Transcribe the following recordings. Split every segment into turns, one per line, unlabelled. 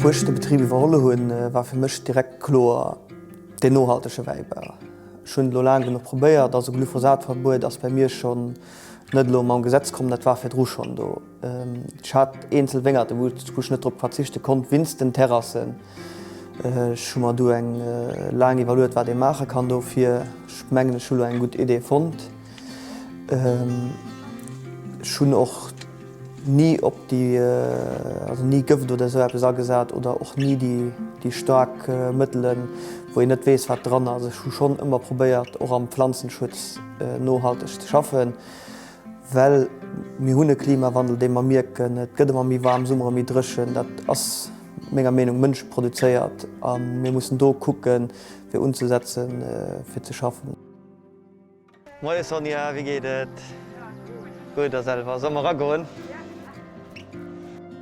Wou ech de Betrib iwwerholle hunn, war fir mech direkt kloer, deen nohaltege Wäibau. Ech hunn et elo laang genuch probéiert, also Glyphosat-Verbuet ass bei mir schonn net elo mam Gesetz komm, dat war virdru schonn do. Ech hat eenzel Wéngerten, wou ech net drop verzichte konnt, winst den Terrassen. Ech hu mer du eng laang iwwerluet, wat ee maache kann dofir. Ech mengen, ech hu lo eng gutt Idee fonnt. Ech hunn och ni op déi, also ni Gëft oder esou eppes agesat oder och ni déi staark Mëttelen, wou een net weess, wat dran ass. Ech hu schonn ëmmer probéiert, och am Planzenschutz nohalteg ze schaffen. Well mir hunn e Klimawandel, dee mer mierken. Et gëtt ëmmer méi waarm, Summere méi dréchen. Dat ass menger Meenung mënscheproduzéiert a mir mussen do kucke fir unzesetze fir ze schaffen. Moie Sonja, wéi geet et? Gutt, a selwer? Solle mer eragoen?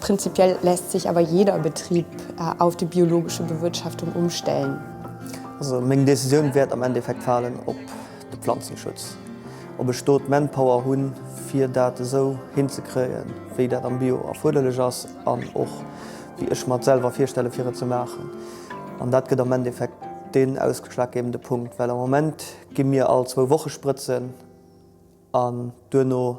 Prinzipiell lässt sech awer jeder Betrieb auf die biologische Bewirtschaftung umstellen. Also
meng Decisioun wäert am Endeffekt falen op de Planzenschutz, ob ech do d'Manpower hunn, fir dat esou hinzekréien, wéi dat am Bio erfuerderlech ass an och wéi ech mer et selwer virstelle fir et ze maachen. An dat gëtt am Endeffekt deen ausgeschlaggebende Punkt, well am Moment gi mir all zwou Woche sprëtzen an duerno,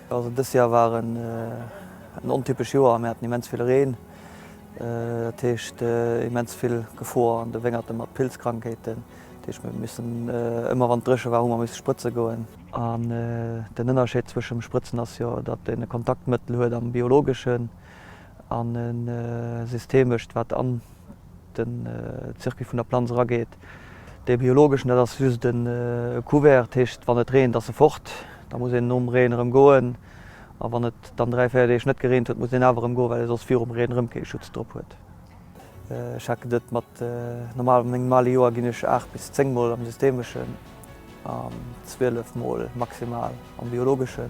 Also dëst Joer war en ontypesch Joer, mir haten immens vill Reen, dat heescht immens vill Gefor an de Wéngerte mat Pilzkrankheeten. Dat heescht mir hu missen ëmmer wann et dréche war hu mer missen sprëtze goen. An den Ënnerscheed zwëschem Sprëtzen ass jo datt een e Kontaktmëttel huet am biologeschen an e systemescht wat an. den Circuit vun der Planz erageet. Dee biologeschen, dat ass just e Couvert, dat heescht wann et reent ass e fort, da muss een nom Reen erëm goen a wann et dann dräi, véier Deeg net gereent huet, muss een awer erëm goen, well ee soss virum Reen erëm kee Schutz drop huet. Checken dat mat normal, an engem normale Joer ginn ech aacht bis zéng mol am systemeschen an zwielef mol maximal am biologeschen.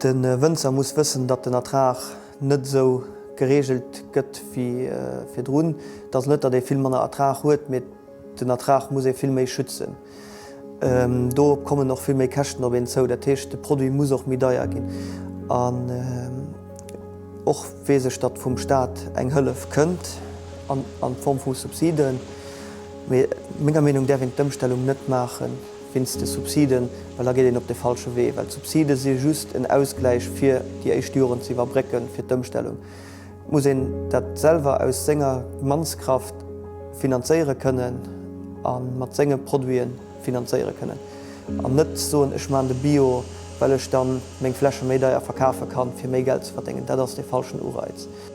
De Wënzer muss wëssen, datt den Ertrag net esou gereegelt gëtt wéi virdrun. Et ass net, datt ee vill manner Ertrag huet, mee den Ertrag muss ee vill méi schützen. Do kommen och vill méi Käschten op een zou. Dat heescht, de Produit muss och méi deier ginn. An och weess ech, datt vum Staat eng Hëllef kënnt an Form vu Subsiden, mee menger Meenung däerf een d'Ëmstellung net maachen. wéinst de Subsiden, well da geet een op de falsche Wee, well d'Subside si just en Ausgläich fir déi éischt Joren ze iwwerbrécken fir d'Ëmstellung. Et muss een dat selwer aus senger Mannskraft finanzéiere kënnen a mat senge Produite finanzéiere kënnen an net soen, ech maachen de Bio, well ech da meng Fläche méi deier verkafe kann, fir méi Geld ze verdéngen. Dat ass de falschen Ureiz.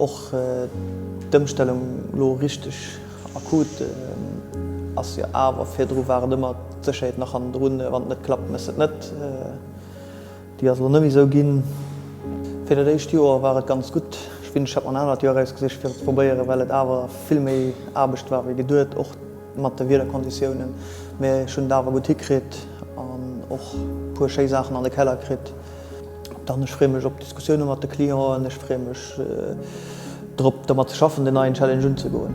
Och d'Ëmstellung elo richteg akut ass jo awer, virdru war et ëmmer d'Sécherheet nach hannendrun, wann et net klappt, méchs de et net. Déi ass elo net méi esou ginn. Fir dat éischt Joer war et ganz gutt. Ech wéncht, ech hätt mer en anert Joer erausgesicht fir et ze probéieren, well et awer vill méi Aarbecht war wéi geduet, och mat de Wiederkonditiounen. Mee ech hunn et awer gutt hikritt an och e puer schéi Saachen an de Keller kritt. Dann, ech freeë mech op d'Diskussioune mat de Clienten. Ech freeë mech drop, domat ze schaffen, den neien Challenge unzegoen.